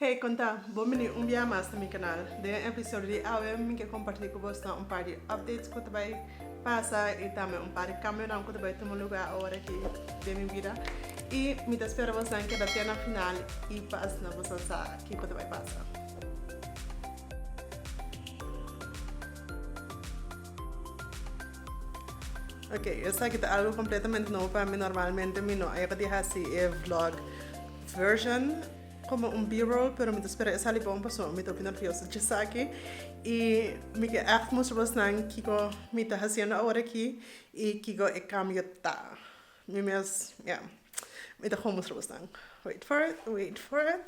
Hey con ta? Bon bini un bia mas na mi canal. Den e episodio di awe mi ke comparti cu bosnan un par di updates cu ta bay pasa y tambe un par di cambionan cu ta bay tuma lugar awor aki den mi bida y mi ta spera bosnan keda te na final y pas na boso sa kico ta bay pasa. Ok, esaki ta algo completamente nobo pa mi, normalmente mi no a yega di haci e vlog version. Como un b-roll pero mi ta spera e sali bon pasobra mi ta hopi nervioso dje esaki y mi ke echt mustra bosnan kiko mi ta haciendo awor aki y kiko e cambio ta. Mi mes ya mi ta hopi mustra bosnan wait for it wait for it.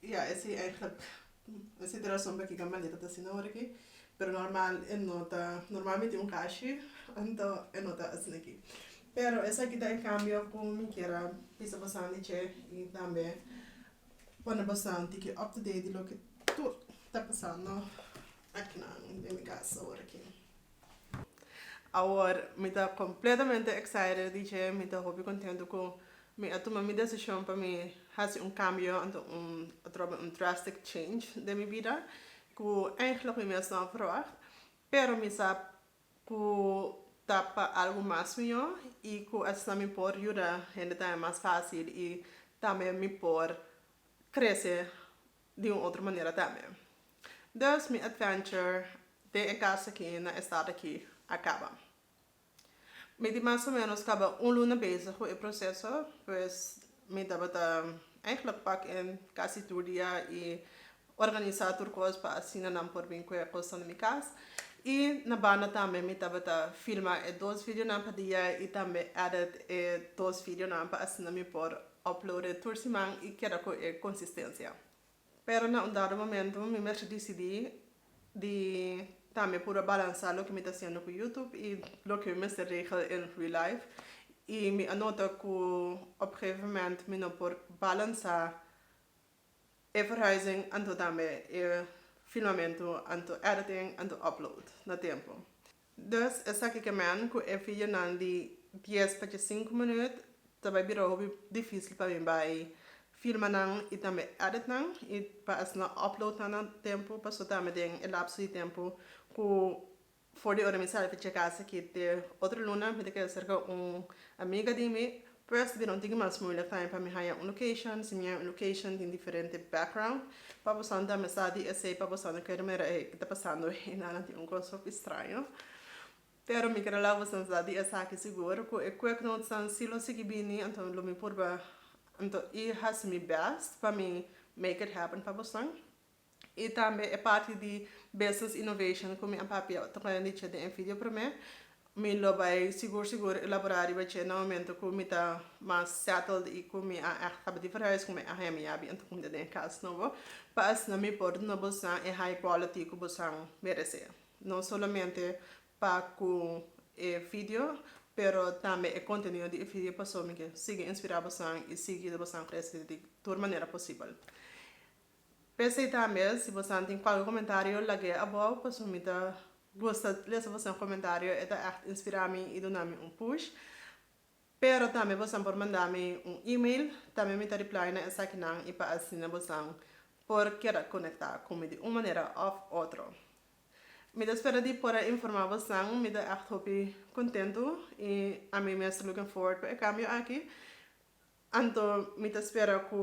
Y ja, ese eigenlijk ese ta e rason pakiko Maneta ta asina ora aki, pero normal e no ta normal mi tin un kashi anto e no ta asina aki. Pero esaki ta e kambio ku mi kier a bisa bosan di dje y tambe pone bosan tiki up to date di loke tur ta pasando akinan den mi kasa ora aki. Awor mi ta completamente excited di dje, mi ta hopi contento cu mi a tuma mi decision pa mi haci un cambio, anto un, atrobe un drastic change den mi bida, cu eigenlijk mi mes no a verwacht, pero mi sa cu ta pa algo mas mihor y cu asina mi por yuda hende tambe mas facil y tambe mi por crece. di un otro manera tambe. Dus mi adventure den e cas aki na e stad aki a caba. Mi di mas o menos caba un luna bezig cu e proceso pues mi tabata eigenlijk pak in casi tur dia y organisa tur cos pa asina nan por bin cu e cosnan na mi cas y na banda tambe mi tabata filma e dos videonan pa dia y tambe edit e dos videonan pa asina mi por Uploade tur siman y keda cu e consistencia. Pero na un dado momento mi mercé dicidi di tambe puro a balansa loke mi ta haciendo cu YouTube y loke mi mester regel en real life y mi a nota cu op gegeven moment mi no por balansa e verhuizing anto tambe e filmamento anto editing anto upload na tempo. Dus esaki ke men ku e fijonan di dies pa dje sinku minüt ta bai bira hopi difísil pa mi bai filma nan i tambe èdit nan i pa hasi nan òpload nan na tempu paso ta ami den e lapso di tempu ku for di ora mi sali ta tjekasa aki te otro luna mi ta kere serka un amiga di mi First mi no tin ki mas moeilijk time pa mi haya un location, si mi haya un location tin diferente background pa boso ta mesa di esey pa boso no kere mira ey ki ta pasando ey nanan tin un kos hopi straño pero mi quiere laga boso sa di esaki sigur cu e quick notes nan si lo sigui bini anto lo mi purba anto i hasi mi best pa mi make it happen pa boso. I tambe e parti di Business Innovation ku mi a papia ta kunda di dje den e video promé. Mi lo bai sigur sigur elaborá riba dje na momentu ku mi ta mas settled i ku mi a ègt tabata di verhuis ku mi a hemi a bien ta kunda den e kas nobo pa asina mi por duna bosan e high quality ku bosan meresé. No solamente pa ku e video pero tambe e kontenido di e video pasobra mi ke sigui inspirá bosan i sigui bosan krese di tur manera posibel. P'esei tambe si bosan tin kualke komentario lag'e abou paso mi ta gusta lesa bosan komentario e ta ègt inspirá mi i duna mi un push. Pero tambe bosan por manda mi un email tambe mi ta reply na esakinan i pa asina bosan por keda konektá ku mi di un manera òf otro. Mi ta spera di por a informá bosan, mi ta ègt hopi kontentu i ami mes ta looking forward pa e kambio aki. Anto mi ta spera ku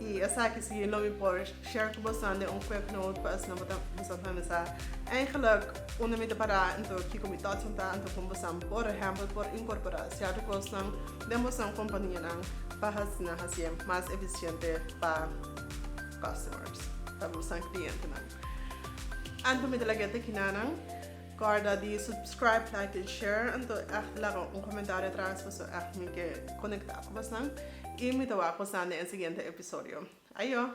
Y esaki si no mi por share cu boso den un quick note pa asina bo ta bisa cu mi sa eigenlijk unda mi ta para enton kico mi thoughts ta enton como boso por ehempel por incorpora cierto cosnan den boso companianan pa asina haci mas eficiente pa customers pa boso clientenan. Anto mi ta laga e te kina nan. Corda di subscribe, like en share anto echt laga un comentario atras paso echt mi ke conecta cu bosan y mi ta wak bosan den e siguiente episodio. Ayo!